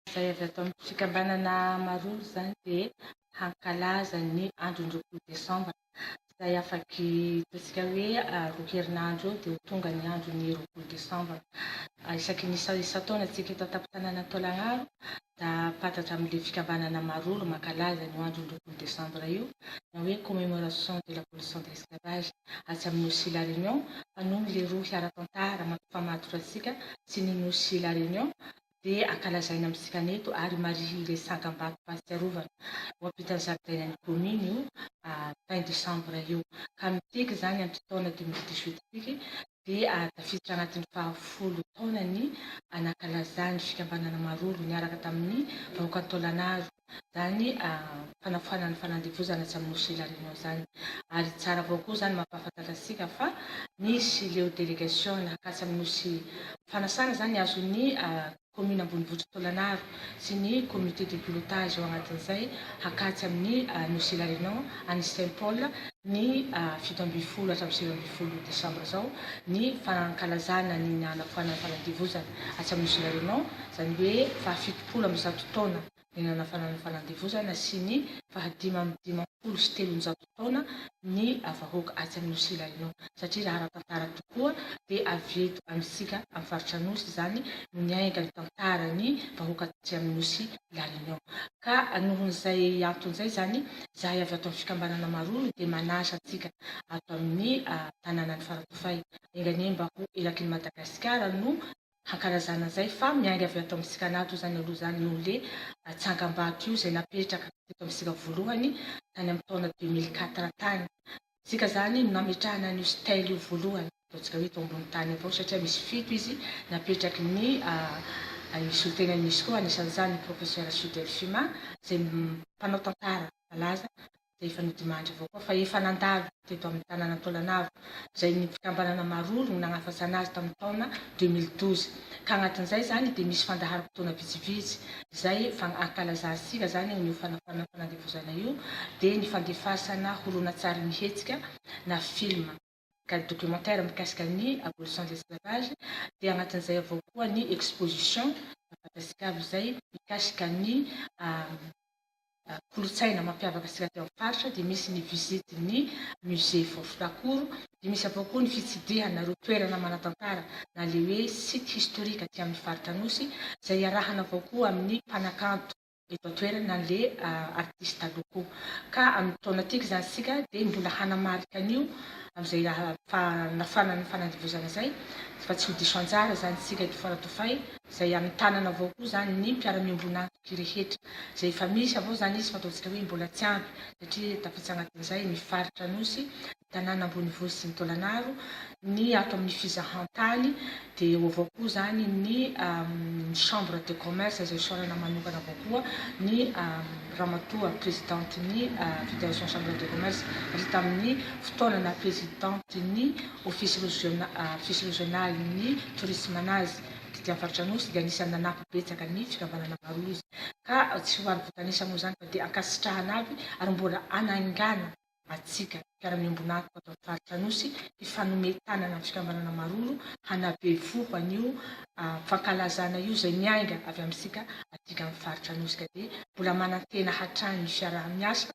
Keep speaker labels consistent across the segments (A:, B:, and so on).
A: Izay avy ato amin'ny fikambanana Amaroro izany dia hankalaza ny andron'ny roapolo desambra, izay afaky hitantsika hoe roa herinandro eo dia ho tonga ny andron'ny roapolo desambra. Isaky ny isan-taona antsika eto an-tampon-tanànan'i Taolagnaro dia ampantatra amin'ilay fikambanana Amaroro mankalaza an'io andron'ny roapolo desambra io na hoe commémoration de l'abolition de l'esclavage atsy amin'ny Nosy La Réunion fa noho ny leroa hiara-tantara mampifamatotra antsika sy ny Nosy La Réunion dia ankalazaina amintsika ny eto ary marihy ilay tsangam-bato fahatsiarovana ho ampitan'ny zaridainan'ny kaominy io fin décembre io ka miteky izany amin'ity taona deux mille dix-huit ity dia tafiditra anatin'ny faha folo taonany nankalazan'ny fikambanana Marollo niaraka tamin'ny vahoakan'i Taolagnaro zany fanafana ny fanandevozana tsy amin'ny Nosy Hilarino zany. Ary tsara avao koa zany mampahafantatra antsika fa misy ireo delegation nakasy amin'ny Nosy fanasana zany azon'ny commune ambonivohitry Tôlanaro sy ny comité de pilotage ao anatin'izay hakatsy amin'ny Nosy Hilarino any Saint Paul ny fito ambin'ny folo hatramin'ny sivy ambin'ny folo desambra zao ny fankalazana ny hanafoanana ny fanandevozana atsy amin'ny Nosy Hilarino zany hoe faha fito folo amby zato taona ny nanafana ny fanandevozana sy ny fahadimy amby dimampolo sy telonjato taona ny vahoaka atsy amin'ny Nosy Ilaino satria raha ara-tantara tokoa dia avy eto amintsika amin'ny faritra Anosy izany no niainga ny tantaran'ny vahoaka tatsy amin'ny Nosy Ilaino ka nohon'izay antony izay izany izahay avy ato amin'ny fikambanana Maroro dia manasa antsika ato amin'ny tanànan'i Faratofay enganie mba ho erakin'i Madagasikara no hankalazana izay fa miainga avy ato amintsika anaty izany aloha izany noho le tsangambato io izay napetraka teto amintsika voalohany tany amin'ny taona deux mille quatre tany isika izany no nametrahana an'io style io voalohany ataontsika hoe eto ambony tany avao satria misy fito izy napetraky ny ny solontenany misy koa anisan'izany ny professeur Sud Delphima izay mpanao tantara malaza izay efa nodimandry avao koa fa efa nandalo teto amin'ny tanàna Antolanavo izay ny fikambanana Maroro no nagnafatsana azy tamin'ny taona deux mille douze ka agnatin'izay zany dia misy fandaharam-potoana vitsivitsy izay fa ankalazantsika zany io fanafana fanandevozana io dia ny fandefasana horonantsary mihetsika na film ka ny documentaire mikasika ny abolition de l'esclavage dia anatin'izay avao koa ny exposition Madagascar izay mikasika ny kolotsaina mampiavaka antsika aty amin'ny faritra dia misy ny visite ny musée Voafonakoro dia misy avao koa ny fitsidihana ireo toerana manatantara na le hoe site historique aty amin'ny faritra Anosy izay iarahana avao koa amin'ny mpanakanto eto an-toerana le artiste taloha koa ka amin'ny taona tiako zany isika dia mbola hanamarika an'io amin'izay fanafana ny fanandevozana izay fa tsy ho diso anjara izany isika eto Faradofay izay amin'ny tanana avao koa izany ny mpiara-miombon'antoky rehetra izay efa misy avao izany izy fa ataontsika hoe mbola tsy ampy satria tafiditra anatin'izay ny faritra Anosy tanàna ambonivohitra sy ny taolanaro, ny ato amin'ny fizahan-tany dia eo avao koa izany ny chambre de commerce izay fisaorana manokana avao koa ny ramatoa prezidantin'ny federation chambre de commerce ary tamin'ny fotoana naha prezidantin'ny office regionalin'ny tourisme anazy tety amin'ny faritra Anosy dia anisan'ny nanampy betsaka ny fikambanana maro izy ka tsy ho ary voatanisa moa izany fa dia ankasitrahana avy ary mbola hanaingana Matsika, mpiara-miombon'antoka ato amin'ny faritra Anosy, hifanome tanana amin'ny fikambanana Maroro hanabevoho an'io fankalazana io izay miainga avy amintsika aty amin'ny faritra Anosy ka dia mbola manantena hatrany ny fiaraha-miasa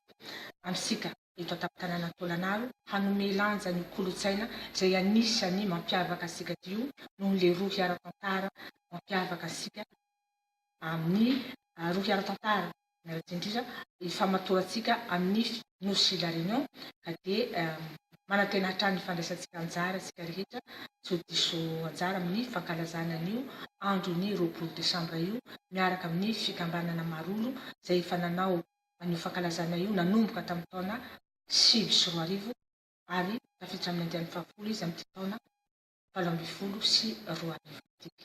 A: amintsika eto an-tampon-tanàna Antolanaro hanome lanja an'io kolontsaina izay anisan'ny mampiavaka antsika aty io noho ilay rohy ara-tantara mampiavaka antsika amin'ny rohy ara-tantara Miarahaba indrindra ifamatorantsika amin'ny Nosy La Réunion ka dia manantena hatrany ny fandraisantsika anjara isika rehetra tsy ho diso anjara amin'ny fankalazana an'io andron'ny roapolo desambra io miaraka amin'ny fikambanana Marollo izay efa nanao an'io fankalazana io nanomboka tamin'ny taona sivy sy roa arivo ary tafiditra amin'ny andiany fahafolo izy amin'ity taona valo ambin'ny folo sy roa arivo ity.